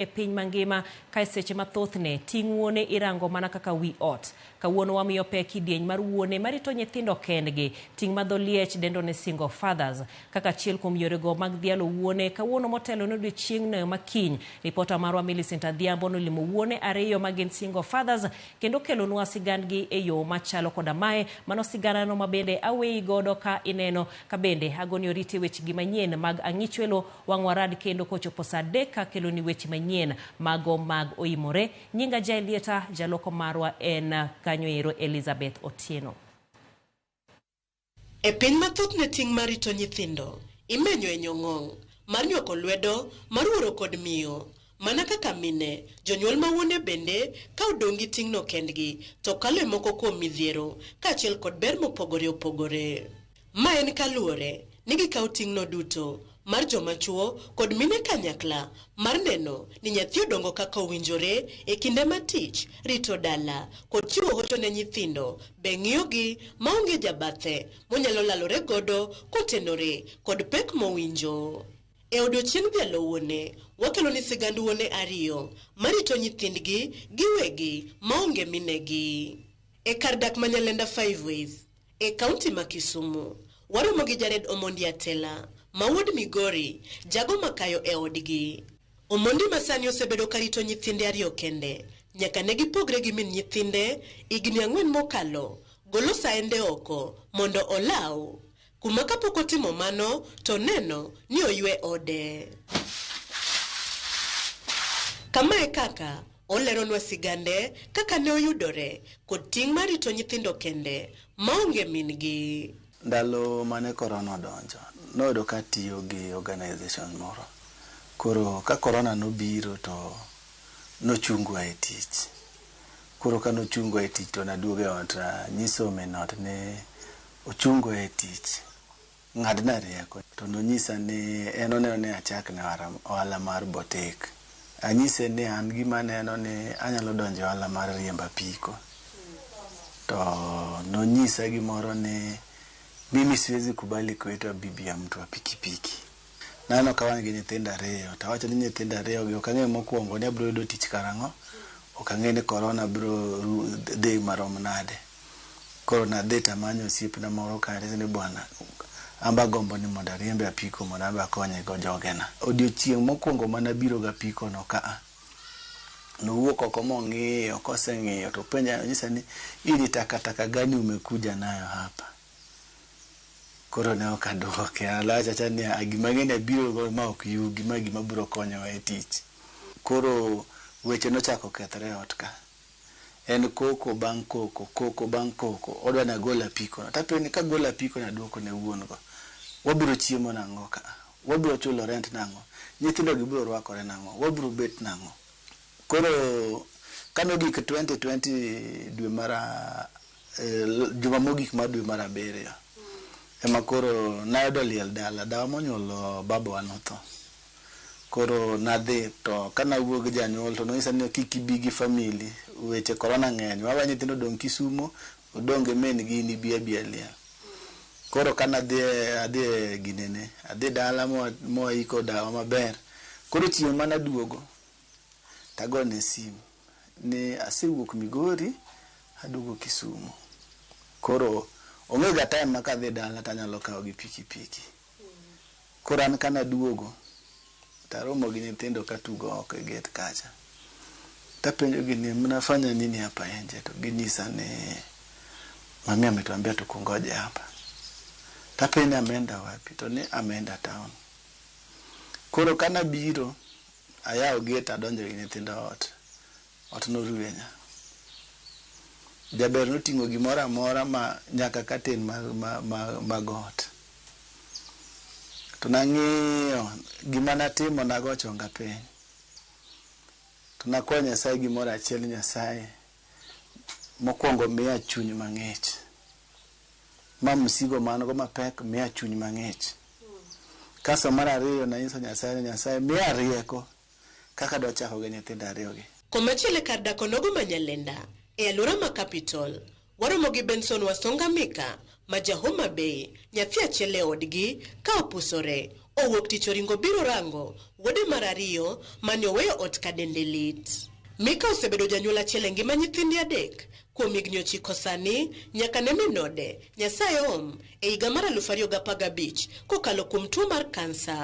e piny mangima kae seche ma thothne ting' wuone irango mana kaka wi ot. Kawuono wamiyo pek kidieny mar wuone marito nyithindo kendgi, ting' ma dho Liech dendo ni single fathers. Kaka achiel kuom yorego mag dhialo wuone, kawuono motelo ne odiechieng'no ma kiny, ripota marwa Millicent Adhiambo nolimo wuone ariyo ma gin single fathers kendo okelonwa sigandgi e yo machalo koda mae, mano siganano mabende aweyi godo ka ineno kabende agoni oriti e wechegi manyien mag Ang'ichwelo Wang'wa rad kendo kochopo saa adek akeloni weche manyien. Mago mag Oimore. Nyinga Jaelieta, jaloko marwa en kanyoero Elizabeth Otieno. E piny ma thothne ting' mar rito nyithindo imenyo e nyong'ong', mar nywako lwedo, mar wuoro kod miyo, mana kaka mine, jonyuol ma wuone bende ka odong' gi ting'no kendgi to kalo e moko kuom midhiero kaachiel kod ber mopogore opogore. Ma en kaluwore ni gikawo ting'no duto mar joma chwo kod mine kanyakla mar neno ni nyathi odongo kaka owinjore e kinde ma tich, rito dala, kod chiwo hocho ne nyithindo be ng'iyogi maonge jabathe monyalo lalore godo kotenore kod pek mowinjo. E odiochieng' dhialo wuone, wakeloni sigand wuone ariyo marito nyithindgi giwegi maonge minegi e kar dak ma Nyalenda Five Ways. E kaunti ma Kisumu, waromo gi Jared Omondi Atela ma wuod Migori, jago makayo e odgi. Omondi ma sani osebedo ka rito nyithinde ariyo kende nyaka ne gipogre gi min nyithinde higni ang'wen mokalo, golo saende oko mondo olaw, kuma kapok otimo mano to oneno ni oywe ode. Kama e kaka Oleronwa sigande, kaka ne oyudore, kod ting' mar rito nyithindo kende, maonge min-gi. Ndalo mane Corona odonjo, noyudo ka atiyo gi organization moro. Koro ka Corona nobiro to nochungwa e tich. Koro ka nochungwa e tich to naduogo e ot, anyiso min ot ni ochungwa e tich. Ng'adna rieko. To nonyisa ni en oneno ni achak ne ohala mar botik. Anyise ni an gima aneno ni anyalo donjo e ohala mar riembo apiko. To nonyisa gimoro ni mimi siwezi kubali kuitwa bibi ya mtu wa pikipiki. Naneno ka wan gi nyithindo ariyo, to awacho ni nyithindo ariyogi ok ang'e mokwongo ni abiro yudo tich karang'o, ok ang'e ni korona biro dhi marom nade. Koro nadhi to amanyo osiepna moro kare ni bwana an be agombo ni mondo ariembe apiko mondo an be akonye go jogena. Odiochieng' mokwongo mane abiro gi apiko no ka a, nowuok oko mong'iyo, koseng'iyo to openja nonyisa ni hii ni takataka gani umekuja nayo hapa? Koro ne ok adwoke, alacha acha ni a gima ang'eni abiro go ma ok yugi, ma gima biro konyowa e tich. Koro weche nochako okethre e ot ka. En koko bang' koko, koko bang' koko. Odwa ni agol apikono. To apenjo ni kagolo apikono aduoko ne wuon go, wabiro chiemo nang'o ka a? Wabiro chulo rent nang'o? Nyithindogi biro rwakore nang'o? Wabiro bet nang'o? Koro kane ogik twenty twenty dwe mar a juma mogik mar dwe mar abiriyo, ema koro nayudo liel dala. Dawa monyuolo babawa notho. Koro nadhi to kane awuoyo gi janyuol to nonyisa ni kik ibi gi family weche korona ng'eny wawe nyithindo odong' Kisumo odong' gi min gi in ibi abiya liel. Koro kane adhi adhi e ginene adhi dala mwaiko dawa maber koro chieng' mane aduogo to agone sim ni asewuok Migori aduogo Kisumo koro ong'ega time ma kadhi dala to anyalo kawo gi piki piki. Koro an ka naduogo to aromo gi nyithindo ka tugo oko e gate kacha. To apenjogi ni mnafanya nini hapa nje? To ginyisa ni mami ametuambia tukungoje hapa. To apenjo ni ameenda wapi? To ni ameenda town. Koro ka nabiro, ayawo gate adonjo gi nyithindo ot. Ot noruenya. Jaber noting'o gimoro amora ma nyaka katen ma, ma, ma, mag ot. To nang'iyo gima natimo, nago chonga piny. To nakwayo Nyasaye gimoro achiel ni Nyasaye, mokwongo miya chuny mang'ich. Ma msigo ma an go mapek, miya chuny mang'ich. Kasto mar ariyo nanyiso Nyasaye ni Nyasaye miya rieko kaka adwa chako gi nyithindo ariyogi. Komachielo e kar dak onogo ma Nyalenda e alwora ma Capital, waromo gi Benson Wasonga Mika ma ja Homa Bay, nyathi achiel e odgi ka opusore, owuok tich oringo obiro rango wuode mar ariyo mane oweyo ot ka dende lit. Mika osebedo janyuol achiel e ngima nyithinde adek kuom higni ochiko sani nyaka ne min ode, Nyasaye oom, e higa mar aluf ariyo gi apar gabich kokalo kuom tuo mar kansa.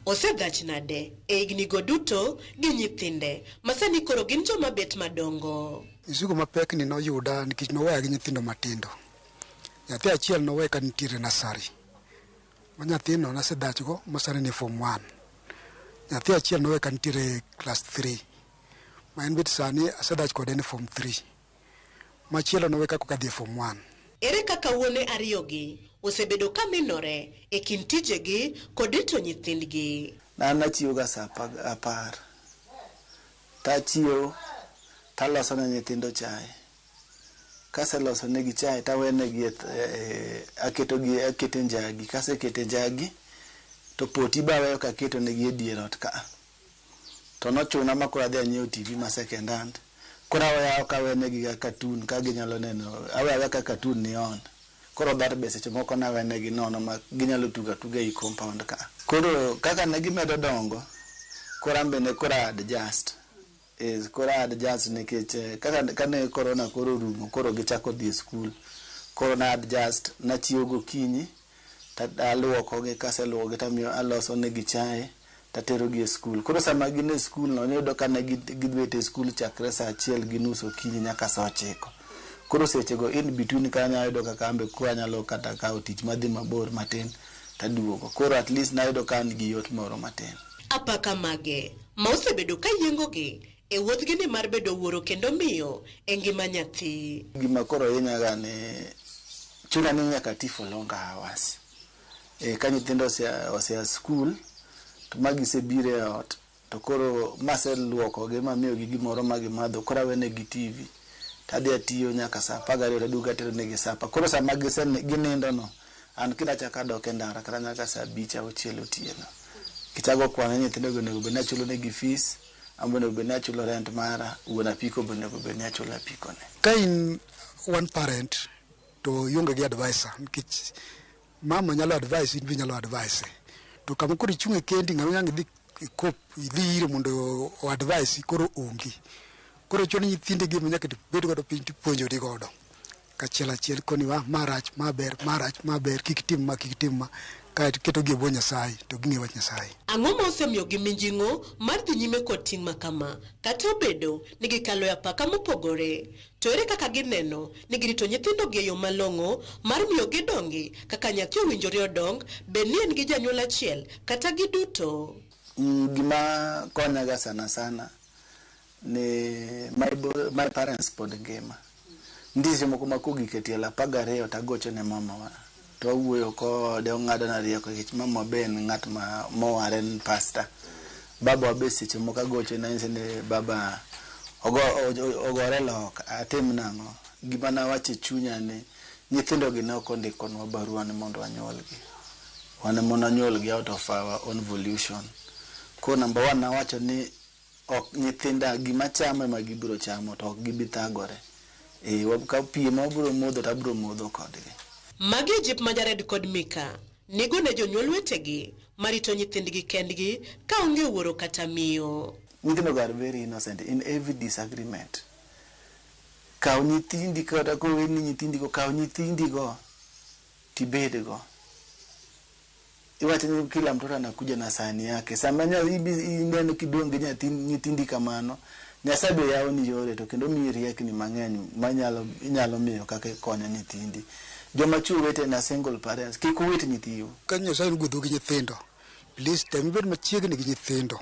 Osegach nade e hignigo duto gi nyithinde ma sani koro gin joma bet madongo? Misigo mapekni noyuda nikech noweya gi nyithindo matindo. Nyathi achiel nowe ka nitiere nasari, ma nyathino nasedhachgo ma sani ni fom wan. Nyathi achiel nowe ka nitiere klas thri, ma en be sani asedhach kode ni fom thri. Machielo nowe ka kokadhi e Form One. Ere kaka wuone ariyogi osebedo ka minore e kind tijegi kod rito nyithindgi? An achiewoga sa apar, tachiewo taloso ne nyithindo chae. Kaseloso negi chae tawenegi akete njagi, kasekete njagi to poti be aweyo kaketonegi e dier ot ka a. to nochuna ma koro adhi anyiewo TV ma second hand. Koro awe awe ok awe negi ga cartoon ka ginyalo neno, awe awe ka cartoon ni on. Koro dhot be seche moko nawe negi nono ma ginyalo tugo atuga ei compound ka. Koro kaka ne gimedo dongo, koro an be ne koro a adjust. Yes, koro a adjust nikech eh, kaka kane corona koro orumo koro gichako dhi e skul koro na adjust nachiewo gokinyi ta- aluokogi kaseluokogi tamiyo aloso negi chae taterogi e skul koro sama gin e skul no niyudo ka ne gi- gibet e skul chakre saa achiel gi nus okinyi nyaka saa ochiko koro sechego in between ka anyalo yudo kaka ambe koro anyalo kata kawo tich madhi mabor matin taduogo koro at least nayudo ka an gi yot moro matin Apaka mage ma osebedo ka yiengogi e wuodhgi ni mar bedo wuoro kendo miyo e ngima nyathi. Gima koro hinya ga ni chuna ni nyaka ati for longer hours. Eh, ka nyithindo ose, ose a school, to ma gise biro e ot, to koro ma ase luoko gi ma amiyo gi gimoro ma gimadho, koro awene gi TV. To adhi atiyo nyaka saa apar gariyo to aduogo atero negi supper. Koro sama gise, ginindo no, An kida chaka dok e ndara kata nyaka saa abich auchiel otieno. Kichago kwano ni nyithindo go onego bed ni achulo negi fees, an be onego bed ni achulo rent mara, wuon apiko be onego bed ni achulo apiko ne. Ka in one parent to ionge gi advisor nikech mama nyalo advise in be inyalo advise. To kama koro ichunge kendi ng'ama inyalo idhi ikop idhi ire mondo o advise koro onge. Koro chuno ni nyithindi gi ema nyaka ibed godo piny tipuonjori godo. kachiel achiel koni wa ma rach ma ber ma rach ma ber kik itim ma kik itim ma kae to ketogi e bwo nyasaye to ging'e wach nyasaye Ang'o ma osemiyogi mijing'o mar dhi nyime kod ting' ma kama? Kata obedo ni gikalo e apaka mopogore, to ere kaka gineno ni girito nyithindogi e yo malong'o mar miyo gidongi kaka nyathi owinjore odong, bed ni en gi janyuol achiel kata giduto? Gima konyaga sana sana. ni my, bro- my parents pod ngima ndishe moko ma kogik e tielo apar gariyo to agocho ne mamawa to awuoyo kode ong'adona rieko nikech mama be en ng'at ma mowar en pasta babawa be seche moko agocho ne anyise ni baba ogo, o- ogore lok atim nang'o gima nawacho e chunya ni nyithindogi ne ok ondikonwa barua ni mondo wanyuolgi wan ema nanyuolgi out of our own volution koro namba one nawacho ni Ok nyithinda gima chamo ema gibiro chamo to ok gibi thagore. Ee ka pi ema wabiro modho to abiro modho kodgi. Magi e jip ma Jared kod Mika nigo ne jonyuol wetegi ma rito nyithindgi kendgi ka onge wuoro kata miyo. Nyithindogo are very innocent in every disagreement. Kaw nyithindi kata koweni nyithindigo, kaw nyithindigo to ibedgo. Iwacho ni kila mtoto anakuja na sahani yake. Sama nya, ibi, ineno kidong' gi nyathi, nyithindi kamano, Nyasaye be yawoni yore to kendo omiyi riekni mang'eny manyalo inyalo miyo kaka ikonyo nyithindi. Joma chwo wetena, single parents, kik uwit nyithiu. Ka Nyasaye nogwedhou gi nyithindo, please tem ibed machiegni gi nyithindo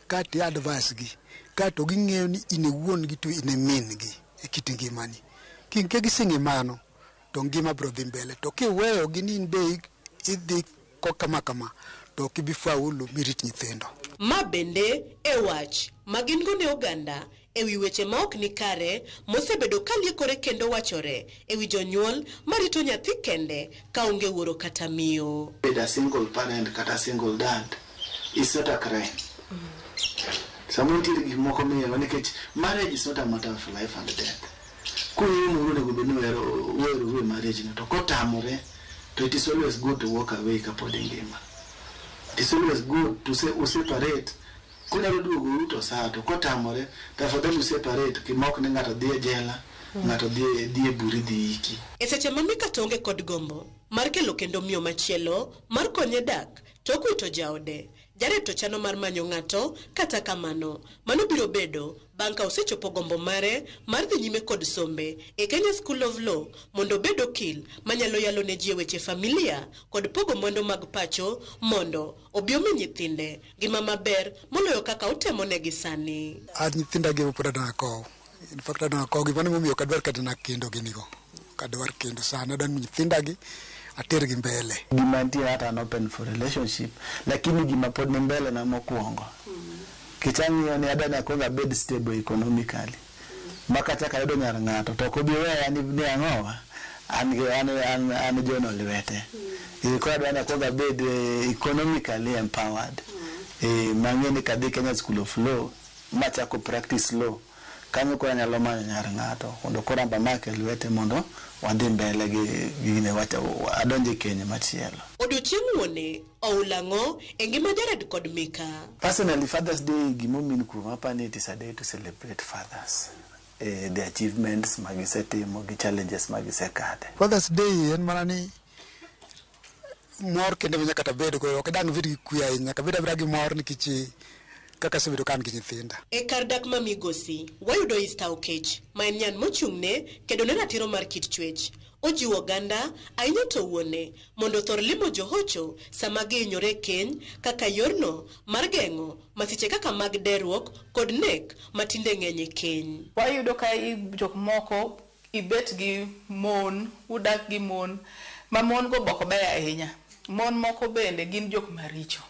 kaeto i advise gi kaeto ging'eyo ni in e wuon gi to in e min gi e kit ngimani. King'e gi sing'e mano, to ngima biro dhi mbele. To kiweyo gi ni in be idhi kama kama to ok ibi faulu mirit nyithindo. Ma bende e wach ma gin go ne oganda e wi weche ma ok ni kare mosebedo ka liekore kendo wachore e wi jonyuol ma rito nyathi kende ka onge wuoro kata miyo. Bedo a single parent kata single dad is not a crime. Samoro nitiere gik moko miyowa nikech marriage is not a matter of life and death. Kung'iyo moro onego bed ni ohero oheroru e marriage no to kotamore to it is always good to walk away kapod ingima. It is always good to se, u separate kunyalo duogoru to saa to kotamore to afadhali u separate kima ok ni ng'ato dhi e jela ng'ato dhi e- dhi e buri dhi iki. E seche ma Mika to onge kod gombo mar kelo kendo miyo machielo mar konye dak to okwito jaode, Jared to chano mar manyo ng'ato, kata kamano, mano biro bedo bang' ka osechopo gombo mare mar dhi nyime kod sombe e Kenya School of Law mondo obed okil manyalo yalo ne ji e weche familia kod pogo mwandu mag pacho mondo obi omi nyithinde ngima maber moloyo kaka otemonegi sani. An nyithinda gi ema pod adak akow. In fact adwa kogi mano momiyo ok adwar kata na kendo ginigo. Ok adwar kendo sana adwa nyithinda gi ater gi mbele. Gima antie hata an open for relationship lakini gima pod ni mbele na mokuongo kech ang'iyo ni adwa ni akwong abed stable economically ma kachak ayudo nyar ng'ato to ok obi weya ni ni ang'owa an gi an an an jono lwete. Eh, koro adwa ni akwong abed eh, economically empowered. Eh, mang'e ni kadhi Kenya School of Law Machako practice law. Kanyo koro anyalo manyo nyar ng'ato mondo koro anbe amake lwete mondo wadhi mbele gi gini adonj e keny machielo. Odiochieng wuone oul ang'o e ngima Jared kod Mika? Personally Father's day gima omin kuoma apani it is a day to celebrate fathers eh, the achievements magisetimo gi challenges magisekadhe. Father's day en mana ni mor kende ma nyaka tabed go ok dang' bed gi kwe ahinya nyaka bed abeda gi mor nikech eh, kaka asebedo ka an gi nyithinda E kar dak ma Migosi, wayudo Easter Okech, ma en nyan mochung'ne kedo ne ratiro mar kit chwech. Ojiwo oganda, ahinya to wuone, mondo othor limo johocho sama gihinyore e keny kaka yorno mar geng'o masiche kaka mag deruok kod nek ma tinde ng'eny e keny. Wayudo ka i- jok moko ibet gi mon, udak gi mon ma mon go be ok beyo ahinya. Mon moko bende gin jok maricho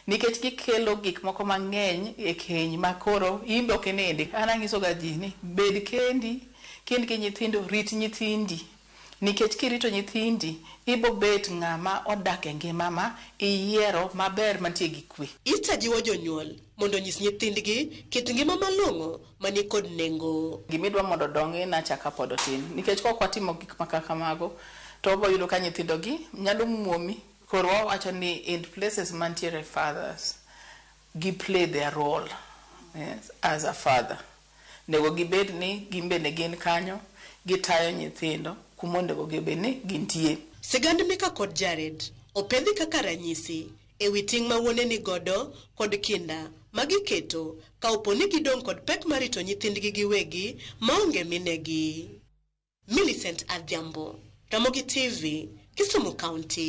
nikech gikelo gik moko mang'eny e keny ma koro in be ok inindi. An anyiso ga ji ni bed kendi ka in gi nyithindo, rit nyithindi nikech kirito nyithindi ibo bet ng'ama odak e ngima ma iyiero maber mantie gi kwe. Ita jiwo jonyuol mondo onyis nyithindgi kit ngima malong'o mani kod nengo. Gima idwa mondo odongi na cha ka pod otin. Nikech kok watimo gik ma kaka mago to wabo yudo ka nyithindo gi nyalo muomi. Koro wawacho ni in places mantiere fathers gi play their role as a father. Onego gibed ni gin bende gin kanyo gitayo nyithindo kuma onego bed ni gintie. Sigand Mika kod Jared opedhi kaka ranyisi e wi ting' ma wuone ni godo kod kinda ma giketo ka opo ni gidong' kod pek mar rito nyithindgi giwegi ma onge minegi. Millicent Adhiambo, Ramogi TV, Kisumu County.